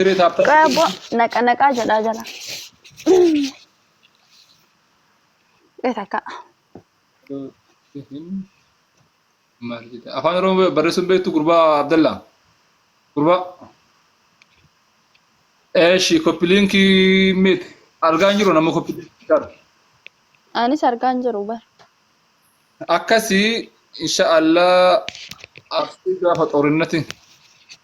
Dirree taaphaa. Qoya bo naqa naqaa jedhaa jala. Qoya takka. Maal jedha? Afaan Oromoo barreessuun beektu gurbaa Abdallaa. Gurbaa. Eeshi koppiliinkii miti. Argaa hin jiru nama koppiliinkii qabu. Anis argaa hin jiru bar. Akkasii insha Allah asii gaafa xoorinnatiin.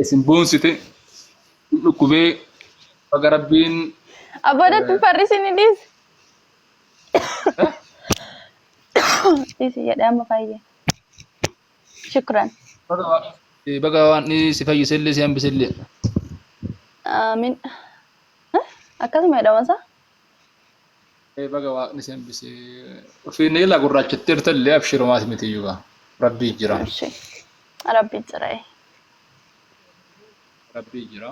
Isin boonsite hin dhukkubee baga rabbiin Abboodatti farrisi ni dhiisi. Dhiisi jedhee amma fayye. Shukran. baga waa- eh, baga waan ni si fayyisellee si hambisellee. Aamin. Akkasuma jedhama isaa? baga waaqni si hambise ofii ni ila gurraachattee jirta illee abshirumaati miti iyyuu gaa rabbii jira Abshi. Rabbi jira. eh. rabbii jira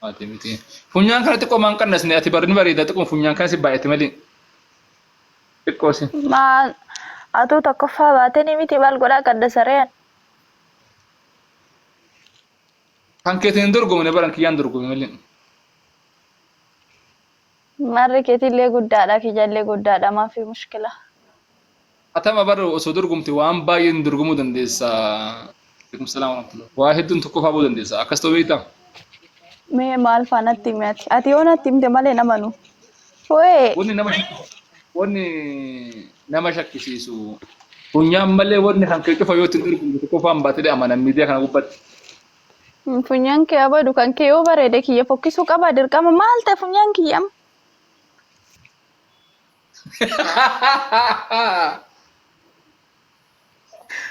maati miti funyaan kana xiqqoo maan qannasne ati barri ni bareeda xiqqoo funyaan kana si baay'ate malee xiqqoo si Maa atuu tokkoffaa baatanii miti maal godhaa qadda sareen. kan keetiin hin dorgomne baran kiyyaan dorgome malee Marri ketillee guddaadha kijallee guddaadha maafi mushkila. Hatama bar osoo dorgomte waan baay'een dorgomuu dandeessa. Alaikum salam warahmatullah. Waa hedduun tokkoffaa ba'uu dandeessa. Akkas ta'uu beektaa? Mee maal faa natti himi ati? Ati yoo natti himte malee hin amanu. Ho'ee! Wanni nama shakkisiisu wanni nama shakkisiisu funyaan malee wanni kan kee cufa yoo ittiin dorgomte tokkoffaan baatee amana miidiyaa kana gubbatti. Funyaan kee abadu kan kee yoo bareede kiyya fokkisuu qaba dirqama maal ta'e funyaan kiyya amma.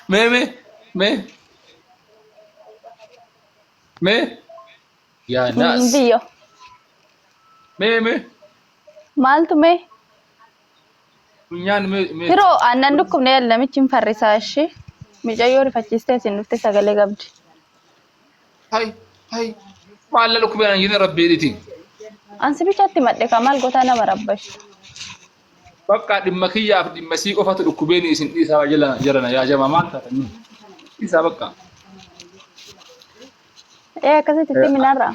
Mee mee mee mee yaa naas Biyyo mee mee maaltu mee Funyaan mee mee. Firoo aannan dhukkubne yaal namichi hin farrisaa ishee. Micayyoo rifachiistee isin dhufte sagalee qabdi. Hay hay. Maalla dhukkubee naan jenne rabbii dhiti. Ansi bichaatti madde kaa maal gotaa nama rabbashi. Bakka dhimma kiyyaaf dhimma sii qofatu dhukkubeen isin dhiisaa waa jala jarana yaa jamaa maal taatanii. Dhiisaa bakka. Ee akkasitti itti minarraa.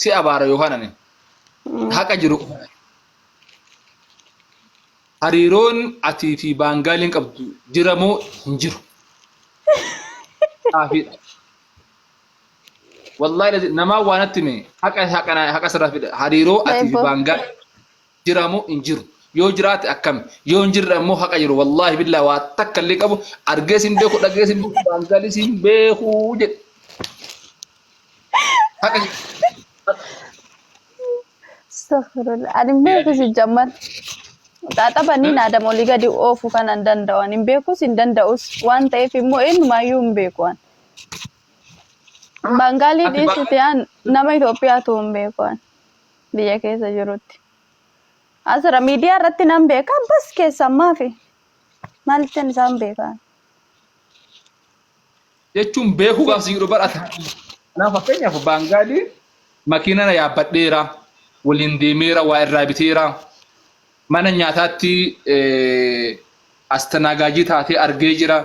si abaara yookaan ani haqa jiru qofa dhabe. Hariiroon atii fi baangaaliin qabdu jira moo hin jiru? Xaafiidha. Wallaahi lazi- namaa waanatti mee haqa haqa haqa sirraa fida hariiroo atii fi Eebbo. baangaaliin jiraa moo hin jiru yoo jiraate akkami yoo hin jirre ammoo haqa jiru wallaahi billaa waa takka illee qabu argees hin beeku dhagees hin beeku daangaalis hin beeku jedhe haqa jiru Astaghfirullah. Ani hin beeku si jammar. Xaaxabanii naadam olii gadi oofu kan hin danda'an hin beekus hin danda'us waan ta'eef immoo eenyumaayyuu hin beeku an. Baangaalii Ati dhiisiti an nama Itoophiyaatu hin beeku an. biyya keessa jirutti. Asirra miidiyaa irratti nan beeka bas keessan maafi maaltin isaan beekaan. jechuun beekuu gaaf siidhu barata. Kanaaf fakkeenyaaf baangaadii makiina na yaabbadheera, waliin deemeera, waa irraa biteera, mana nyaataatti eh, astanaagaajii taatee argee jira.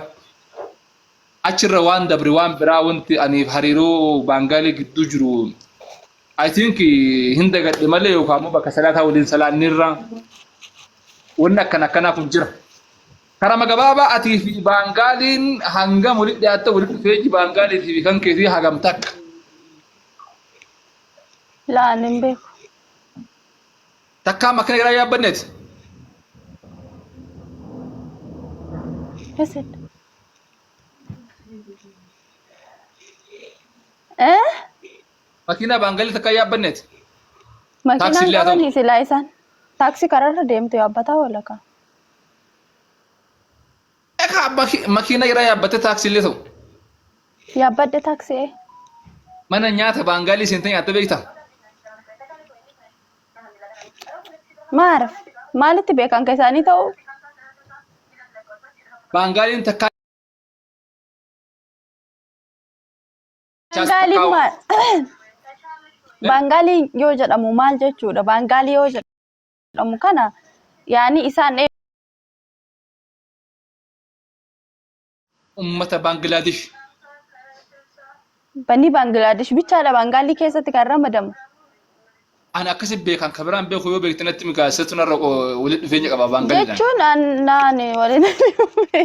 achirra waan dabre waan biraa wanti aniif hariiroo baangaalee gidduu jiru I think hin dagadhe malee yookaan immoo bakka salaataa waliin salaanneerra wanni akkana akkanaa kun jira. Karama gabaabaa atii fi baangaaliin hangam walitti dhiyaatta walitti dhufeenyi baangaalii fi kan keetii hagam takka. Laaleen beeku. Takkaa makina garaa yaabbanneet. Hasan. Eh? Makina baangalli takkaa yaabbanneet. Makiinaan Taaksii illee haa ta'u. qabanii silaa isaan. Taaksii karaarra deemtu yaabbataa walakaa. Ekaa makina garaa yaabbattee taaksii illee ta'u. Yaabbadhe taaksii ee. Mana nyaata baangaalii seentee nyaattee beektaa? Maarif maalitti beekan kan isaanii ta'u? Baangaaliin takkaa Baangaaliin maal? Baangaalii yoo jedhamu maal jechuudha? Baangaalii yoo jedhamu kana yaani isaan ummata Baangilaadesh. Banni Baangilaadesh bichaadha Baangaalii keessatti kan ramadamu. Ani akkasi beekan kan biraan beeku yoo beekte natti migaa isatu narra walitti dhufeenya qaba Baangaliidhaan. Jechuun an- naan walitti dhufee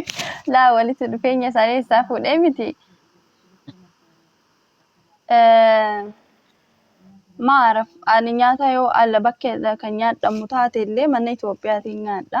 laa walitti dhufeenya isaanii isaa fuudhee miti. Eh, Maaraf ani nyaata yoo ala bakkeedha kan nyaadhamu taate illee mana Itoophiyaatiin nyaadha.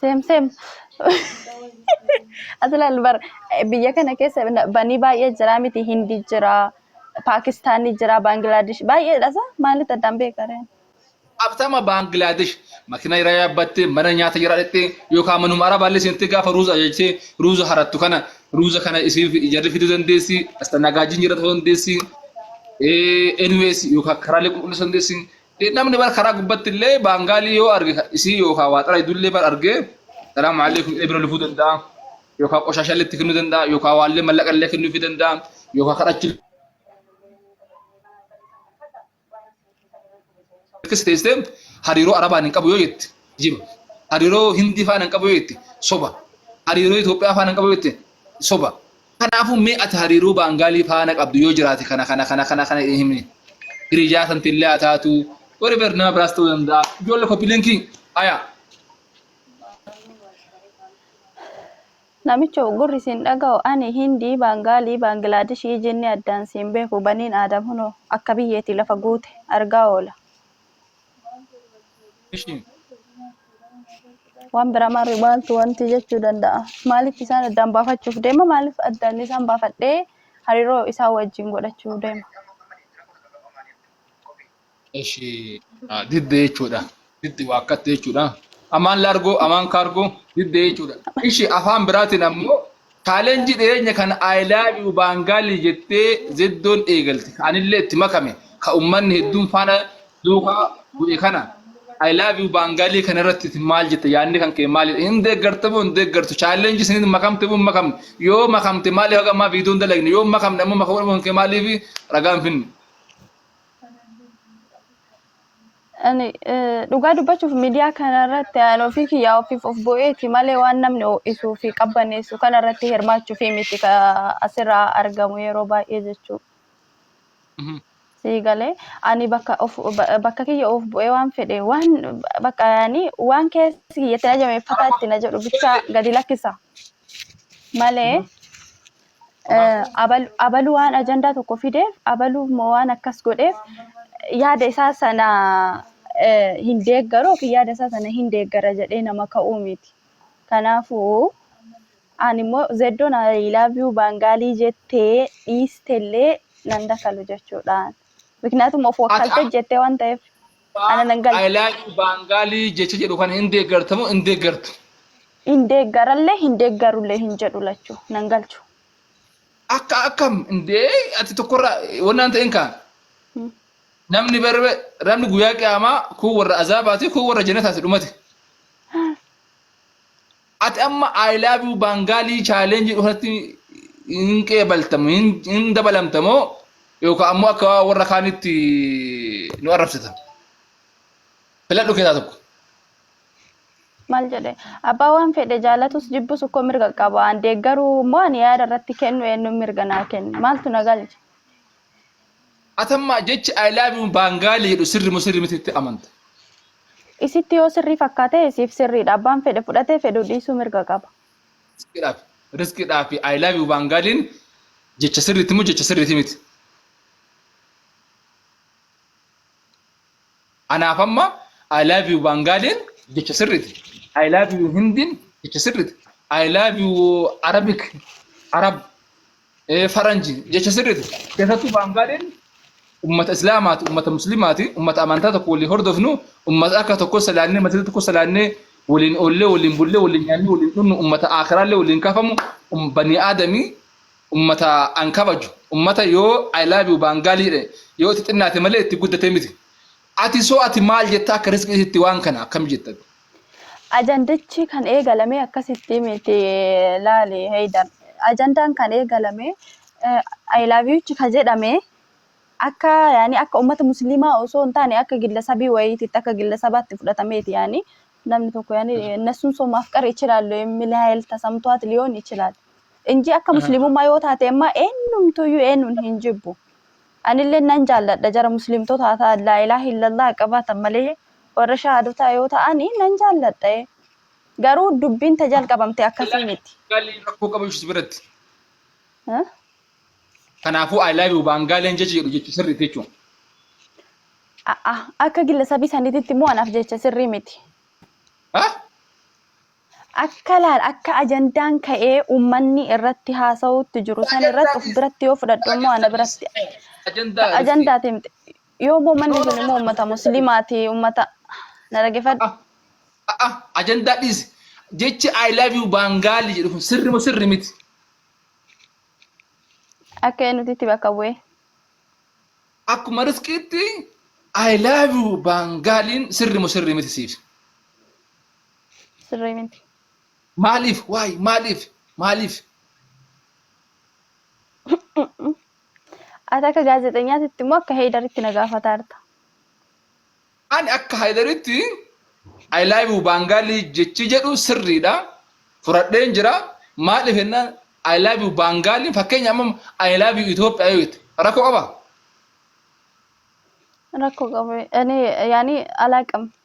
Seem seem. Ati laal bar biyya kana keessa na- banii baay'ee jira miti Hindi jira Paakistaanii jira Baangilaadesh baay'eedha sa maalitti addaan beekareen. Abtama Baangilaadesh makina irra yaabbatte mana nyaata jira dhaqxe yookaan manuma arabaallee seentee gaafa ruuza ajajtee ruuza harattu kana ruuza kana isiif ijarri fiduu dandeessi astanagaajjiin jira ta'uu dandeessi ee anyways yookaan karaalee qulqulleessuu dandeessi Namni bar karaa gubbatti illee baangaalii yoo arge isii yookaan waa xalayidu illee bar arge salaamu alaikum jedhee bira lufuu danda'a. Yookaan qoshaashaa illee itti kennuu danda'a. Yookaan waallee mallaqa illee kennuufii danda'a. Yookaan kadhachuu Akkasi teessee hariiroo Arabaan hin qabu yoo jette jiba. Hariiroo Hindii faana hin qabu yoo jette soba. Hariiroo Itoophiyaa faana hin qabu yoo jette soba. Kanaafuu mee ati hariiroo Baangaalii faana qabdu yoo jiraate kana kana kana kana kana himi. Hiriyaa santillee haa taatu. Whatever nama biraas ta'uu danda'a. Ijoollee koppiilinkii ayaa. Namicho gurri siin dhaga'u ani Hindii, Baangaalii, Baangilaadishii, jinni addaan siin beeku baniin Aadam hunoo akka biyyeetii lafa guute argaa oola. ishiin Waan biraa maarree maaltu wanti jechuu danda'a? Maaliif isaan addaan baafachuuf deema? Maaliif addaan isaan baafadhee hariiroo isaa wajjin godhachuu deema? ishii ah, didde jechuudha. Didde waakkatte jechuudha. Amaan laargoo, amaan kaargoo, didde jechuudha. Ishii afaan biraatiin ammoo Challenge dhiyeenya kana I love you Baangaali jettee Zeddoon eegalte. Anillee itti makame. Ka ummanni hedduun faana duuka bu'e kana. I love you Baangaalii kana irratti isin maal jetta? Yaadni kan kee maalidha? Hin deeggarta moo hin deeggartu? Challenge isiniin makamte moo hin makamne? Yoo makamte maaliif haga ammaa viidiyoo hin dalagne? Yoo hin makamne ammoo makamuu dhabuun kee maaliif ragaa hin finne? Ani dhugaa dubbachuuf miidiyaa kanarratti ani ofii kiyyaa ofiif of bu'eeti malee waan namni ho'isuu fi qabbaneessu kanarratti hirmaachuuf miti ka asirraa argamu yeroo baay'ee jechuu. Sii galee ani bakka of bakka kiyya of bu'ee waan fedhe waan bakka ani waan keessi kiyya itti na jabeeffataa itti na jedhu bichaa gadi lakkisa malee abalu waan ajandaa tokko fideef abalu immoo waan akkas godheef yaada isaa sana hin deeggaru yookiin yaada isaa sana hin deeggara jedhee nama ka'uu miti. Kanaafuu ani immoo zeddoon I love you baangaalii jettee dhiistellee nan dakalu jechuudhaan. Miknaatum of wakkaltee jettee waan ta'eef. Ana nan galle. I like you Baangaalii jecha jedhu kana hin deeggarta moo hin deeggartu? Hin deeggarallee hin deeggarullee hin jedhu lachuu nan galchu. Akka akkam indee ati tokkorra wannaan ta'een kaa. Hmm. Namni barbe namni guyyaa qiyaamaa kun warra azaabaati kun warra jannataati dhumate. Ati amma I love you Baangaalii challenge jedhu kanatti hin qeebaltamu hin hin dabalamta moo yookaan ammoo akka warra kaanitti nu arrabsita. Filadhu keessaa tokko. Maal jedhe abbaa waan fedhe jaalatus jibbus ukkoo mirga qaba. An deeggaruu immoo ani yaada irratti kennu eenyuun mirga naa kenna. Maaltu na galcha? Atamma jechi I love you baangaalii jedhu sirri moo sirri miti itti amanta? Isitti yoo sirrii fakkaate isiif sirriidha. Abbaan fedhe fudhatee fedhu dhiisuu mirga qaba. Riskiidhaaf riskiidhaaf I love you baangaaliin jecha sirriitti moo jecha sirriitti miti? Anaaf amma I love you baangaaliin jecha sirriitti. I love you hindiin jecha sirriitti. I love you arabik arab Eh, Faranji jecha sirriiti. Keessattuu Baangaadeen ummata Islaamaati, ummata Muslimaati, ummata amantaa tokko waliin hordofnu, ummata akka tokko salaannee, masjida tokko salaannee, waliin oollee, waliin bullee, waliin nyaannee, waliin dhugnu, ummata aakhiraallee waliin kaafamu, um- banii aadamii ummata an kabaju, ummata yoo I love you Baangaalii jedhe, yoo itti xinnaate malee itti guddatee miti. Ati soo ati maal jetta akka risqi isitti waan kana akkam jetta ati. Ajandichi kan eegalame akkasitti miti laali Heydar. Ajandaan kan eegalame I love you ka jedhame akka yaani akka ummata musliimaa osoo hin taane akka gillasabii wayiititti akka gillasabaatti fudhatameeti yaani namni tokko yaani nassuun soo maaf qara ichilaallu emmilaayil tasamtuwaat liyoon ichilaal. Inji akka musliimummaa yoo taate immaa eenyumtuyyuu eenyuun hin jibbu. Anilleen nan jaalladha jara muslimtotaa ta Laailaah illallaah qabaatan malee warra shahaadotaa yoo ta'ani nan jaalladha ee garuu dubbiin ta jalqabamte akkasii miti. Baangaaleen rakkoo qaba jechuudha si biratti. Huh? Kanaafuu I love you baangaaleen jecha jedhu jecha sirriiti jechuudha. A'a akka gillasabii saniititti immoo anaaf jecha sirrii miti. Ah? Akka laal akka ajandaan ka'ee uummanni irratti haasa'uutti jiru san irratti of biratti yoo fudhadhu immoo ana biratti ajandaa timte yoo immoo uummanni sun immoo uummata muslimaati uummata na dhaggeeffadhu. Ajandaa dhiisi jechi I love you baangaalii jedhu kun sirri moo sirri miti. Akka eenyuti itti bakka bu'ee. Akkuma riskiitti I love you baangaaliin sirri moo sirri miti siif. Sirrii miti. Maaliif? Waay maaliif? Maaliif? Ati akka gaazexeenyaatitti immoo akka heedaritti na gaafataa jirta. Ani akka haydaritti I love you baangaalii jechi jedhu sirriidha. Fudhadheen jira. Maaliif jennaan I love you baangaaliin fakkeenya amma I love you Itoophiyaa yoo jette rakkoo qaba. Rakkoo qabu. Ani yaani alaaqam.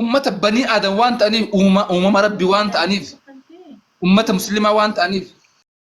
ummata banii aadam waan ta'aniif uumama rabbi waan ta'aniif ummata muslimaa waan ta'aniif